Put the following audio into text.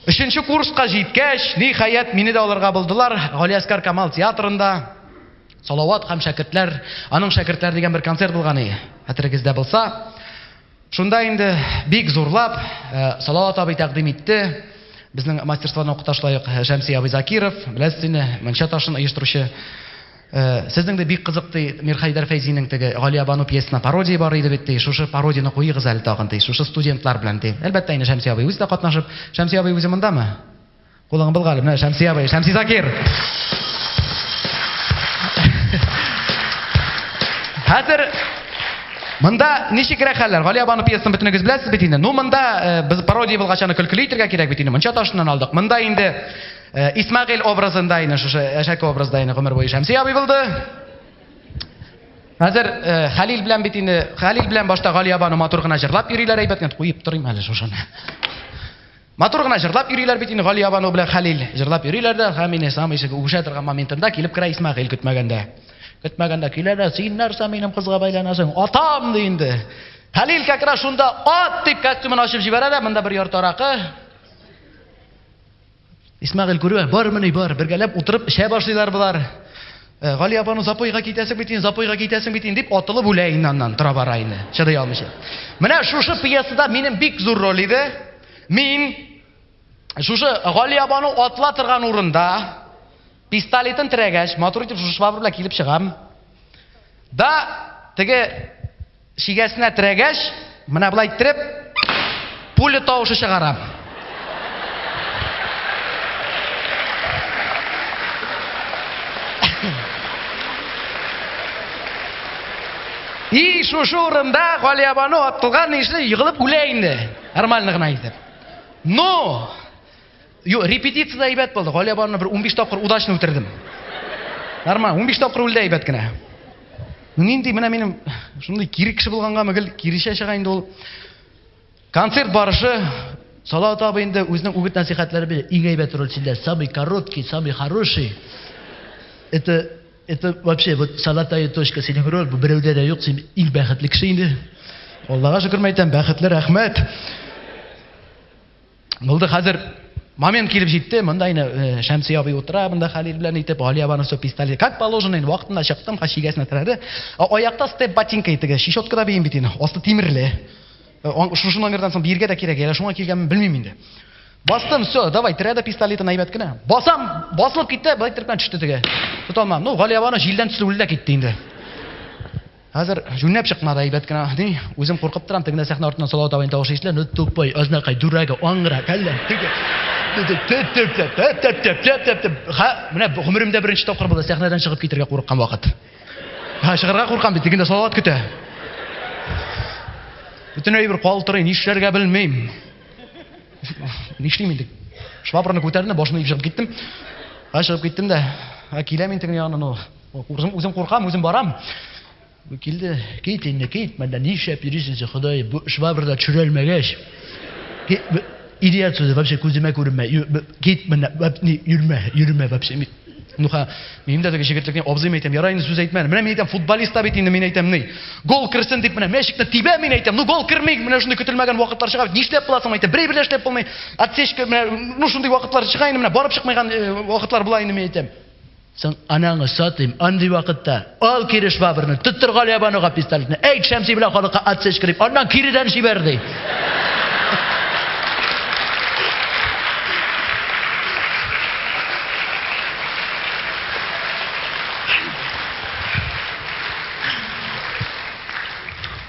Өченче курска җиткәч, ниһаять, мине дә алырга булдылар Галиәскар Камал театрында. Салават һәм шәкертләр, аның шәкертләре дигән бер концерт булган иде. Хәтерегездә булса, шунда инде бик зурлап э, Салават абый тәкъдим итте. Безнең мастерствоны укыташлаек Шәмси абый Закиров, беләсез инде, Мөнчә ташын оештыручы. Сезнең дә бик кызык, ди, Мирхәйдәр Фәйзинең теге Галиябану пьесасына пародия бар иде бит, ди, шушы пародияне куегыз әле тагын, ди, шушы студентлар белән, ди. Әлбәттә инде, Шәмси абый үзе дә катнашып. Шәмси абый үзе мондамы? Кулыңны былга әле. Менә Шәмси абый, Шәмси Закир! Хәзер монда ничегрәк хәлләр? Галиябану пьесасын бөтенегез беләсез бит инде. Ну, монда без пародия булгач аны көлкеле итергә кирәк бит инде. Мунча ташыннан алдык. Монда инде Э, Исмәгыйль образында ине шушы әшәке образда ине гомер буе Шәмси абый булды. Хәзер э, Хәлил белән бит инде Хәлил белән башта Галия бану матур гына җырлап йөриләр әйбәт генә куеп торыйм әле шушыны. Матур гына җырлап йөриләр бит инде Галия бану белән Хәлил җырлап йөриләр дә һәм инде сам ишеге үшә торган моментында килеп керә Исмәгыйль көтмәгәндә. Көтмәгәндә килә дә син нәрсә минем кызга бәйләнәсең? Атам ди инде. Хәлил кәкрә шунда ат дип костюмын ачып җибәрә дә монда бер яртаракы Исмәгыйль күрүе, бармыни, бар, бергәләп утырып эчә башлыйлар болар. Э, Гали апаның запойга китәсең бит инде, запойга китәсең бит инде, дип атылып үлә инде аннан, тора бара инде, чыдый алмыйча. Менә шушы пьесада минем бик зур роль иде. Мин шушы Гали апаның атла торган урында пистолетын терәгәч, матур итеп шушы швабр белән килеп чыгам. Да, теге Чигәсенә терәгәч, менә болай иттереп, пуля тавышы чыгара. И шушы урында Галиябану атылган ише егылып үлә инде. Нормально гына итеп. Но Юк, репетициядә әйбәт булды. Галия барына бер унбиш тапкыр удачно үтердем. Нормаль, унбиш тапкыр үлде әйбәт кенә. Нинди менә минем шундый кире кеше булгангамы, гел киречә чыга инде ул. Концерт барышы Салават абый инде үзенең үгет-нәсихәтләре белән иң әйбәт рольчеләр, самый короткий, самый хороший. Это это вообще вот золотая точка синең роль, бу берәүдә дә юк, син иң бәхетле кеше инде. Аллага шөкер мәйтәм, бәхетле, рәхмәт. Булды хәзер момент килеп җитте, монда инде э, Шәмси абый утыра, монда Хәлил белән итеп, Галия барның все пистолет. Как положено, инде вакытында чыктым, ха шигәсенә терәде. Аякта степ ботинка итеге, щечотка да бейем бит инде, асты тимерле. Э, шушы номердан соң биргә дә кирәк, әле шуңа килгәнмен белмим инде. Бастым, все, давай, терәде пистолетын әйбәт кенә. Басам, басылып китте, былай торып төште теге. Тоталмам. Ну, Галия барның җилдән төсле үлде китте инде. Хәзер җүнләп чыкмады, әйбәт кенә ди. Үзем куркып торам, тегендә сәхнә артыннан Салават абыйның тавышы ишетелә, Ну, тупой, азнакай, дурага, аңгыра, кәлләң, теге, теге, теп-теп-теп, теп-теп-теп-теп-теп-теп. Һа, менә бу гомеремдә беренче тапкыр булды, сәхнәдән чыгып китәргә курыккан вакыт. Һа, чыгарга куркам бит, тегендә Салават көтә. Бөтен әйбер калтырый, нишләргә белмим. Нишлим инде? Швабраны күтәрдем дә, башымны иеп чыгып киттем. Һа, чыгып киттем дә, һа, киләм мин тегенең янына, ну, Үзем, үзем куркам, үзем барам. Килде, кит инде, кит, мәндә нишләп йөрисең син, Ходай, бу швабра да төшерелмәгәч. Идиот сүзе, вообще күземә күренмә. Кит менә, йөрмә, йөрмә вообще. Нуха, мин дә теге җегетлекне абзыйм әйтәм, ярай инде сүз әйтмә. Менә мин әйтәм, футболист та бит инде, мин әйтәм, ни. Гол керсен дип менә мәчекне тибә, мин әйтәм. Ну гол керми, менә шундый көтелмәгән вакытлар чыга. Нишләп буласың, әйтәм, бер бер эшләп булмый. Отсечка, менә ну шундый вакытлар чыга инде, менә барып чыкмаган э, вакытлар була инде, мин әйтәм. Соң анаңы сатыйм, андый вакытта. Ал кире швабрны, тоттыр Галиябануга пистолетны, әйт Шәмси белән халыкка отсечка дип, аннан киредән җибәр, ди.